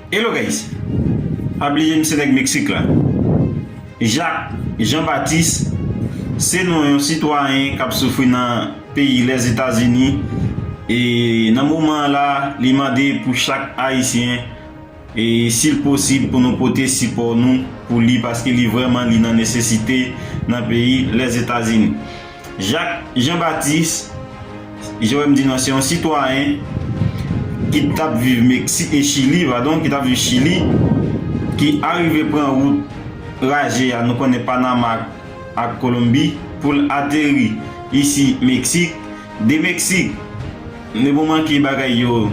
Hello guys pa bliye m se nèg Mexique la Jacques Jean Baptiste se non yon sitwayen kap soufri nan peyi les Etats Unis e nan moman an la li mande pou chak ayisyen e sil posib pou nou pote sipò nou pou li paske li vrèman li nan nesesite nan peyi les Etats Unis. Jacques Jean Baptiste Joëm di nan se yon sitwayen ki t ap viv Meksik e Chili padon ki t ap viv Chili ki arive pran wout raje a nou konnen Panama ak Kolonbi pou l ateri isi Meksik. De Meksik ne bon manke bagay yo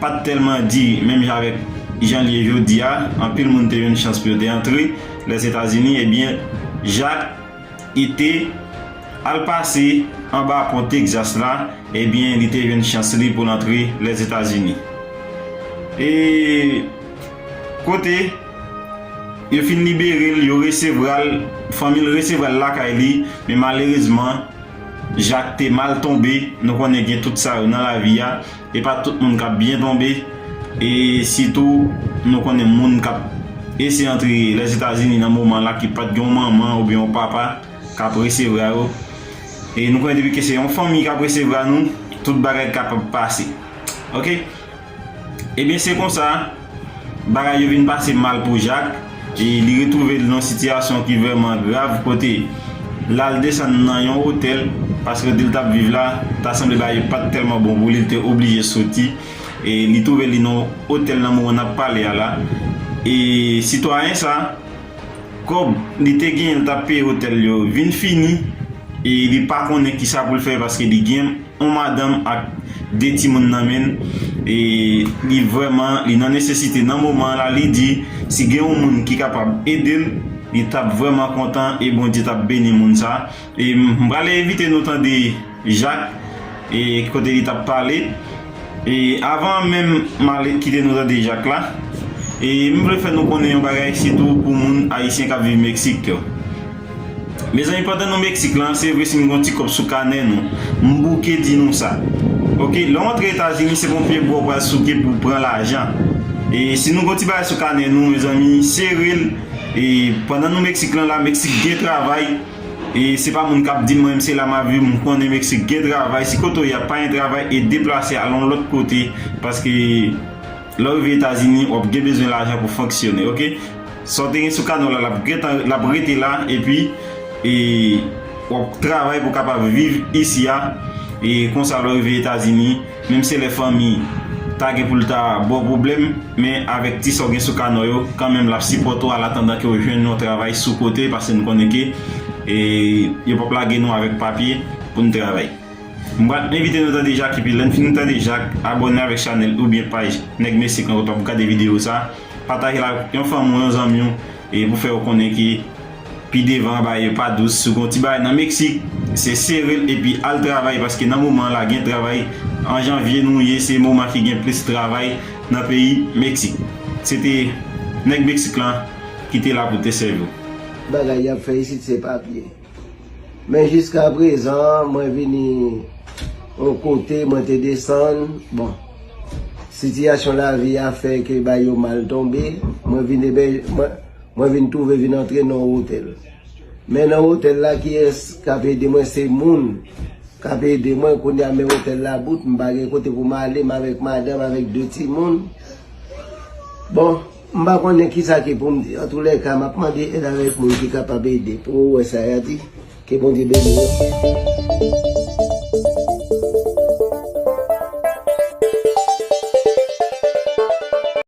pa t tèlman di menm jan avèk jan l ye jodi a anpil moun te jwenn chans pou yo te antre Lèzetazini ebyen Jacques Ete, al pase anba pon Texas la, ebyen li te jwenn chans li pou l antre Lèzetazini. E kote yo fin libere l, yo resevra l, fanmi l resevra l lakay li, men malerezman Jacques te mal tonbe, nou konnen gen tout sa yo nan lavi a, Epa tout moun kap byen tonbe e sitou nou konnen moun kap ese antre Lèzetazini nan moman la ki pat gen yon manman oubyen yon papa kap resevra yo e nou konnen depi ke se yon fanmi kap resevra nou tout bagay kapab pase ok ebyen se konsa Bagay yo vin pase mal pou Jak, e li retwouve l nan sitiyasyon ki vrèman grav kote l al desann nan yon otèl paske kote l t ap viv la ta sanble bagay yo pa t tèlman bon pou li, li te oblije soti e li twouve li nan otèl nan moman n ap pale a la e sitwayen sa. Kòb li te genyen li t ap peye otèl yo vin fini e li pa konnen kisa pou l fè paske li gen yon madanm ak 2 timoun nan men l e li vrèman li nan nesesite nan moman an la li di si gen yon moun ki kapab ede l li t ap vrèman kontan e Bondye t ap beni moun sa. E m pral envite nou tande Jak e kote li t ap pale. E avan menm m al kite nou tande Jak la, e m vle fè nou konnen yon bagay sitou pou moun ayisyen k ap viv Meksik yo. Mezanmi pandan nou Meksik lan, se vre si m gen yon ti kòb sou kanè nou, m bouke di nou sa. Ok, lè w antre Etazini se pa yon pyebwa w pral souke pou w pran lajan. E si nou gen yon ti bagay sou kanè nou, mezanmi sere l. E pandan nou Meksik lan la, Meksik gen travay. E se pa moun kap dim mwen se la map viv m konnen Mexique gen travay si kote w ya pa gen travay e deplase al yon lòt kote paske lè w rive etazini wap gen bezwen lajan pou fonksyone ok sa w te gen sou kanè w la lap gentan lap rete la epi e wap travay pou kapab viv isi a e konsa lè w rive etazini Menm se lè fanmi ta gen pou l ta ba w pwoblèm, men avèk ti sa w gen sou kanò yo, kanmenm l ap sipòte w an atandan ke w jwenn yon travay sou kote pase n konnen ke yo p ap lage nou avèk papye pou n travay. M pral envite nou tande Jak epi lè n fin tande Jak, abòne avèk chanèl oubyen paj Nèg Mesik lan kote w ap gade videyo sa, pataje l ak yon fanmi w, yon zanmi w pou fè yo konnen ke. Pi devan baye pa dous sou gon ti bagay nan mexique se serel epi al travay paske nan moman la gen travay an janvier nou ye se moman ki gen plis travay nan peyi mexique se te neg mexique lan ki te la pou te sèviw. Bagay yap fè isit se papye. Men jiska prezan mwen vini yon kote mwen te desann bon sitiyasyon lavi a fè ke bagay yo mal tonbe mwen vin ebè mwen. Mwen vin twouve vin antre nan yon otèl. Men nan otèl la kiyès k ap ede mwen se moun k ap ede mwen kounye a men otèl la bout m pa gen kote pou m ale m avèk madanm avèk 2 timoun bon m pa konnen kisa ki pou m di antoulèka m ap mande èd avèk moun ki kapab ede pou ou wè sa y a di ke Bondye beni nou.